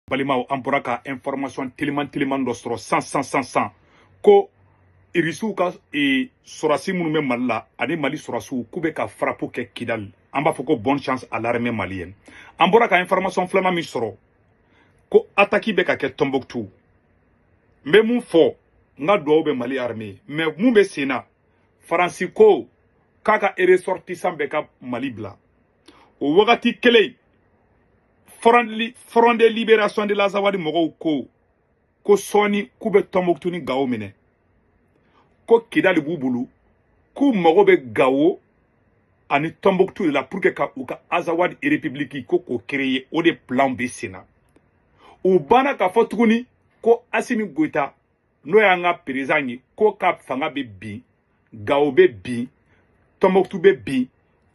balimaw an bɔra ka information teliman teliman dɔ sɔrɔ san san san san ko irisiw ka e, sɔrɔsi minnu bɛ mali la ani mali sɔrɔsiw k'u bɛ ka frappe kɛ kidali an b'a fɔ ko bonne chance à l'armée malienne an bɔra ka information filanan min sɔrɔ ko ataki bɛ ka kɛ tombouctou n bɛ mun fɔ n ka dugawu bɛ mali armée mais mun bɛ sen na faransi ko k'a ka ressortissant bɛɛ ka mali bila o wagati kelen front de libération de l'azawadi mɔgɔw ko ko sɔɔni k'u bɛ tɔnbɔkutu ni gawo minɛ ko kidali b'u bolo k'u mago bɛ gawo ani tɔnbɔkutu de la pour que ka u ka azawadi république ko k'o créer o de plan bɛ sen na u banna k'a fɔ tuguni ko asimi goyita n'o y'an ka perezan ye k'o ka fanga bɛ bin gawo bɛ bin tɔnbɔkutu bɛ bin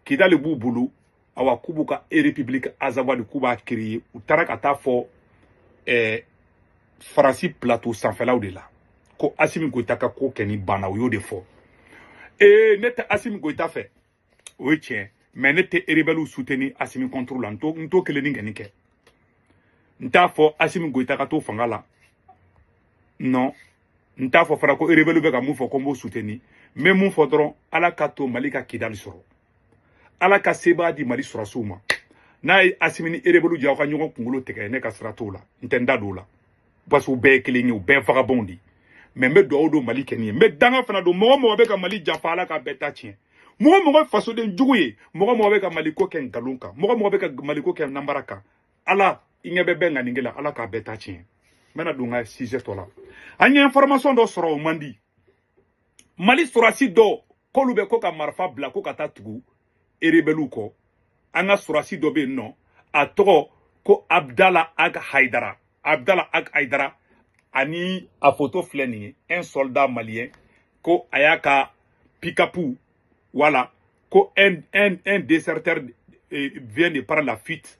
kidali b'u bolo awa k'u b'u ka erepibuliki azawadi k'u b'a kereye u taara ka t'a fɔ eh, faransi plateau sanfɛlaw de la ko asimi goyita ka ko kɛni banna u y'o de fɔ ee ne tɛ asimi goyita fɛ o ye tiɲɛ mais ne tɛ erebɛliw suteni asimi kɔntoro la n t'o kelennin kɛni kɛ n t'a fɔ asimi goyita ka to fanga la non n t'a fɔ fana ko erebɛliw bɛ ka mun fɔ ko n b'o suteni n bɛ mun fɔ dɔrɔn ala ka to mali ka kidali sɔrɔ ala ka sebaa di mali sɔrɔsiw ma n'a ye asimi ni erebɛliw jɛ aw ka ɲɔgɔn kunkolo tigɛ ne ka sira t'o la n tɛ n da don o la parce que u bɛɛ ye kelen ye u bɛɛ vagabonds de mais n bɛ dugawu don mali kɛni ye n bɛ danga fana don mɔgɔ mɔgɔ bɛ ka mali janfa ala ka bɛɛ ta tiɲɛ mɔgɔ mɔgɔ fasoden jugu ye mɔgɔ mɔgɔ bɛ ka mali ko kɛ nkalon kan mɔgɔ mɔgɔ bɛ ka mali ko kɛ nanbara kan ala i ɲɛ bɛ bɛɛ ŋaninge la ala k'a bɛɛ ta tiɲɛ n bɛna don n ka sujet tɔ la an ye information dɔ sɔrɔ o man di mali sɔrɔsi dɔ k'olu bɛ k'u ka marifa bila ko ka taa tugu erebɛliw kɔ an ka sɔrɔsi dɔ bɛ yen nɔ a tɔgɔ ko abdala ag haidara abdala ag haidara ani a foto filɛ nin ye un soldat malien ko a y'a ka pikapu voilà ko un, un, un déserteur eh, vient de par la fuite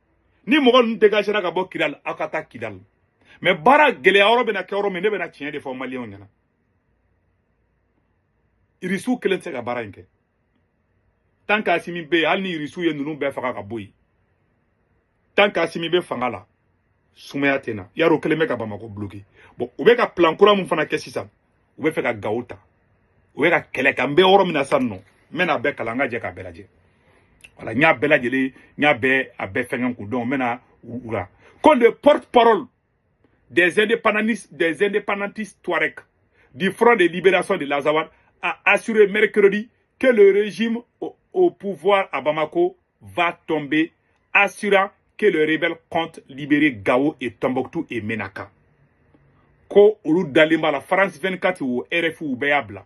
ni mɔgɔ ninnu dégagera ka bɔ kidali aw ka taa kidali mais baara gɛlɛya yɔrɔ bɛna kɛ yɔrɔ min ne bɛna tiɲɛ de fɔ maliyɛnw ɲɛna irisiw kelen tɛ se ka baara in kɛ tant qu'asimi bɛ yen hali ni irisiw ye ninnu bɛɛ faga ka bɔ yen tant qu'asimi bɛ fanga la sumaya tɛ na yarɔ kelen bɛ ka bamako bloke bon u bɛ ka plan kura min fana kɛ sisan u bɛ fɛ ka gawo ta u bɛ ka kɛlɛ kɛ an bɛ yɔrɔ min na sisan nɔ n bɛ n'a bɛɛ kalan an ka jɛ k'a bɛɛ lajɛ voilà n y'a bɛɛ lajɛlen n y'a bɛɛ a bɛɛ fɛngɛ k'u donc n bɛ na u la ko le porte-parole des indépendantistes des indépendantistes Touareg du front de libération de l'Azawad a assuré mercredi que le régime au, au pouvoir à Bamako va tomber assurant que le rebelle compte libérer Gao et Tombouctou et Menaka. Ko olu dalen b'a la France 24 o RFI o bɛɛ y'a bila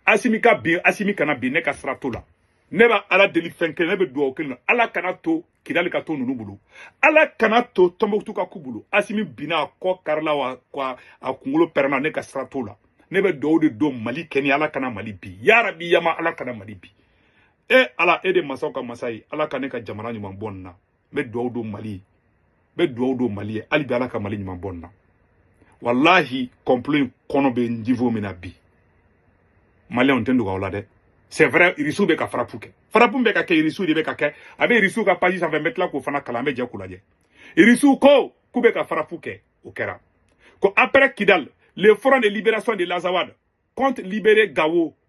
Asimi ka bin Asimi kana bin ne ka sira t'o la ne bɛ ala deli fɛn kelen ne bɛ dugawu kelen na ala kana to Kidali ka to ninnu bolo ala kana to Tombouctou ka k'u bolo Asimi binna a kɔ karila wa a kunkolo pɛrɛnna ne ka sira t'o la ne bɛ dugawu de don Mali kɛni ala kana Mali bin yarabi yama ala kana Mali bin e ala e de masaw ka masa ye ala ka ne ka jamana ɲuman bɔ nin na n bɛ dugawu don mali ye n bɛ dugawu don mali ye hali bi ala ka mali ɲuman bɔ nin na walahi kɔnplo in kɔni bɛ niveau min na bi maliyɛnw tɛ dogo aw la dɛ c'est vrai irisiw bɛ ka farapu kɛ farapu bɛ ka kɛ irisiw de bɛ ka kɛ a bɛ irisiw ka page sanfɛ n bɛ tila k'o fana kalan an bɛ jɛ k'o lajɛ irisiw ko k'u bɛ ka farapu kɛ o kɛra ko après kidal le front de libération de l'azawad compte libérer gawo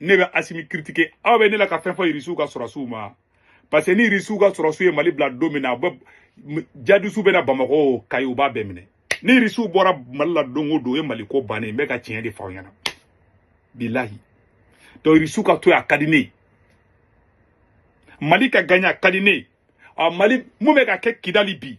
ne bɛ asimi critiquer aw bɛ ne la ka fɛn fɔ irisiw ka sɔrɔsiw ma parce que ni irisiw ka sɔrɔsiw ye mali bila don min na bon jihadisiw bɛ na bamakɔ o kayi u b'a bɛɛ minɛ ni irisiw bɔra mali la don o don o ye mali ko bannen n bɛ ka tiɲɛ de fɔ aw ɲɛna bilahi donc irisiw ka to yen a ka di ne ye mali ka gaɲɛ a ka di ne ye mali mun bɛ ka kɛ kidali bi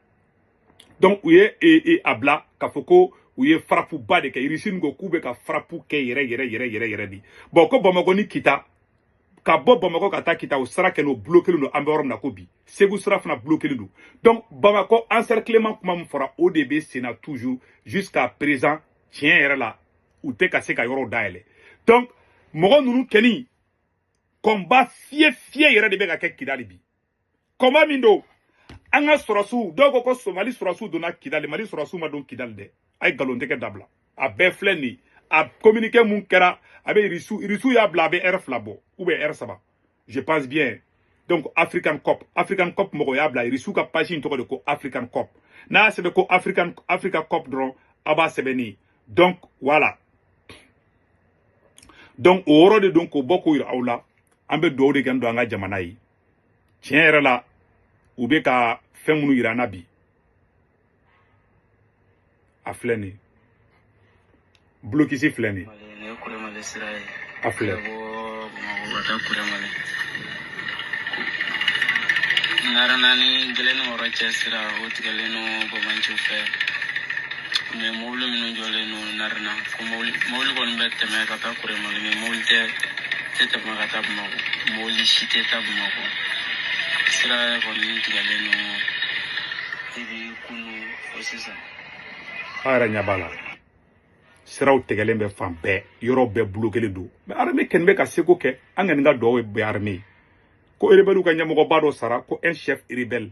donc u ye e, e, a bila k'a fɔ ko u ye farapuba de kɛ irisiw ko k'u bɛ ka farapu kɛ yɛrɛ yɛrɛ yɛrɛ yɛrɛ yɛrɛ de bon ko bamakɔ ni kita ka bɔ bamakɔ ka taa kita o sira kɛni o bulokelen don an bɛ yɔrɔ min na ko bi segu sira fana bulokelen don donc bamakɔ encerclement kuma min fɔra o de bɛ senna toujours jusqu'à présent tiɲɛ yɛrɛ la u tɛ ka se ka yɔrɔw dayɛlɛ donc mɔgɔ ninnu kɛni kɔnba fiyɛ fiyɛ yɛrɛ de bɛ ka kɛ kidali bi kɔnba min don an ka sɔrɔsiw dɔw ko ko mali sɔrɔsiw donna kidali mali sɔrɔsiw ma don kidali dɛ a ye nkalontigɛ dabila a bɛɛ filɛ nin ye a communiqué mun kɛra a bɛ irisiw irisiw y'a bila a bɛ ɛrɛ fila bɔ ou bien ɛrɛ saba je pense bien donc african corps african corps mɔgɔ y'a bila irisiw ka page in tɔgɔ de ko african corps n'a y'a sɛbɛn ko african africa corps dɔrɔn a b'a sɛbɛn ni donc voilà donc o yɔrɔ de don k'o bɔ k'o yira aw la an bɛ dugawu de kɛni don an ka jamana ye tiɲɛ yɛrɛ la u bɛ ka fɛn minnu yira an na bi a filɛ nin ye bulokisi filɛ nin ye a filɛ naani kelen ni wɔɔrɔ cɛ sira o tigɛlen don banbaanciw fɛ mɛ mobili minnu jɔlen don narena ko mobili kɔni bɛ tɛmɛ ka taa kuremali mɛ mobili tɛ tɛ tɛmɛ ka taa bamakɔ mobili si tɛ taa bamakɔ sira kɔni tigɛlen don depi kunu o sisan aw yɛrɛ ɲɛ b'a la siraw tigɛlen bɛ fan bɛɛ yɔrɔ bɛɛ blokelen don mɛ arme kɔni bɛ ka seko kɛ an kɔni ka dɔw bɛ arme ko erebɛliw ka ɲɛmɔgɔba dɔ sara ko un chef rebelle